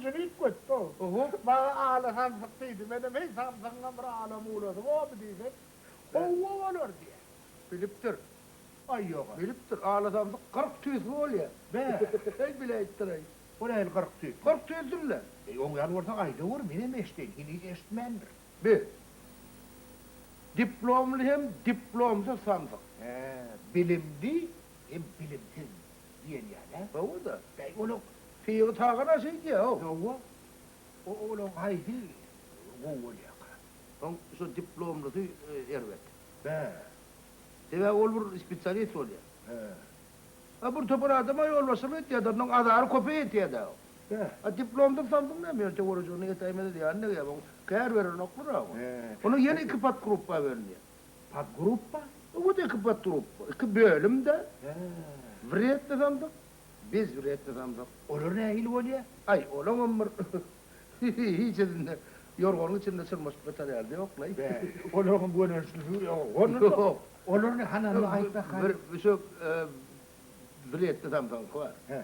Sögünjini üýtgetdi-ow. Huk, maňa Aly samsyk diýdi. Menem, heý, samsygyňam bir ala-mulady bormy diýsem, Howwa bolar diýýär. Bilipdir. Aý, ýog-a. Bilipdir. Ala samsyk kyrk tüýsli bolýar. Be! Heý, bile aýtdyraý. Bolýa indi kyrk tüýsli. Kyrk tüýsli-le. Eý, oň ýaly bolsa aýdaweri, menem eşdeýin. Heniz eşitmändir. Be! Diplomly hem diplomsyz samsyk. He, bilimli hem bilimsiz. Diýen ýaly-ä? Hawa-da. Bäý, onuň syýygy tagana şeýdýär-ow. Hawa. O-olaň haýsy gowy bolýarka? Soň şo diplomlusy erbet. Bäh. Sebäbi ol bir spesialist bolýar. Bäh. A bir topar adama ýolbaşçylyk etýär-de, ondan azary köpeý etýär-de-ow. Bäh. A diplomdan saldyň näme, ýöne töweregiň ýetäýmez edýär, annegem oň kär berenoklar-a oňa. Onuň ýene iki podgruppa bölünýär. Podgruppa? Wot iki podgruppa, iki bölüm-de. Hä. Wredny sandyk, bezwredny sandyk. Olar nähili bolýa? Aý, olaňam bir hiç edinde ýorganyň içinde çyrmaşyp ýatar ýaly ýok-laý. Bä, olaňam gönençli suwy ýok. Olaryny hananda aýtsak hany? Bir şu wredny sandygyňky bar. Hä.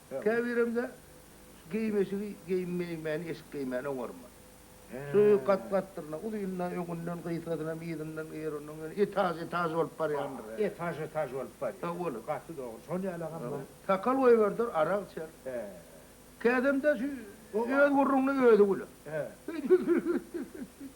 Käbirem-de geýim-eşigi geýinmeýinmäni eşik geýmäni oňarman. Süri gat-gatdyr-na, uzyn-da, öňünden gysgasynam, yzyndan eger ondan ýöne etaž-etaž bolup barýandyr-ä. Etaž-etaž bolup barýar. Sag boluň. Gaty dogry. Şol ýalagam-a. Sakal goýberder, arak içer. Kädem-de şu öz gürrüňine özi güler. Hüýt-hüýt-hüýt-hüýt-hüýt-hüýt.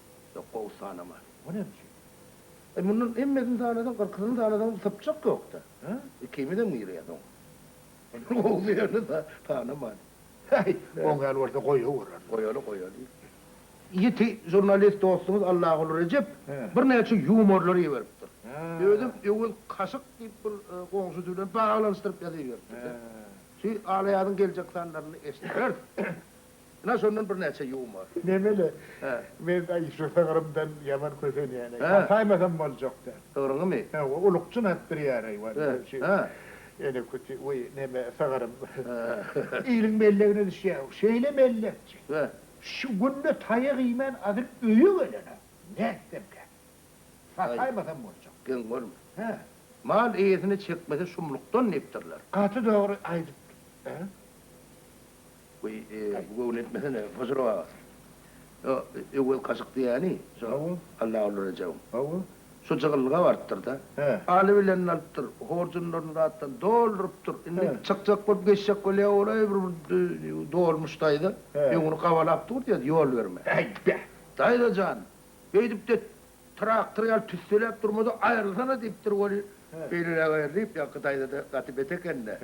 Ýok, gowy sanama. O näme üçin? E, mundan hemmesini sanasaň, kyrkysyny sanasaň, bir sypjak ýok-da. Hä? Ikimizem girýäs oňa. Mundan gowusyny sanaman. Häý, gowy däl bolsa, goýawerersiň. Goýaly, goýaly. Ýiti žurnalist dostuňyz Allaguly Rejep birnäçe ýumorlary iberipdir. Özem öwez kaşyk diýip bir goňşusy bilen baglanyşdyryp ýazyberipdir-de. Şu alaýadyň geljek sanlarynda eşideris. Ynha şondan birnäçe ýumor. Nemeli? Men aý şu sygrymdan ýaman kösenýän aý. Saýmasam boljak däl. Sygryňymy? Hawa, ulukjyn atdyrýar aý wani şu ene küti we neme sygrym. Iliň mellegine düşýär bu. Şeýle mellekçi. Şu günde taýak iýmän azyl öýe gelen-ä. Nätsemkä. Saýmasam boljak. Geň görme. Mal eýesini çekmese şumlukdan diýipdirler. Gaty dogry aýdypdyň. Weý, bu göwün etmesene, Hoja Rowagat. Ýo, öwez kaşyk diýýäni, şo Hawa. Allaguly Rejebiň. Hawa. Şo jygyllyga barypdyr-da. Hä. Alybilenini alypdyr, horjunlaryny zatdan doldurypdyr. Indi çykjak bolup geçjek bolýar golaý bir dolmuş daýza. Öňüni gabalap dur diýýär, ýol berme. Äý, be! Daýza jan, beýdip-de traktor ýaly tüsseläp durma-da, aýrylsana diýipdir weli. Beýleräk aýrylyp, ýaňky daýza-da gaty bet eken-dä.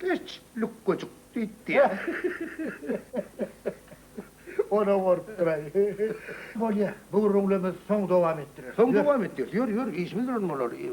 Geç, lukgajyk! diýipdi. Onam gorkup duraý. Bolýa, bu gürrüňlerimiz soň dowam etdireriz. Soň dowam etdireriz. Ýör, ýör, işimiz bilen bolaly.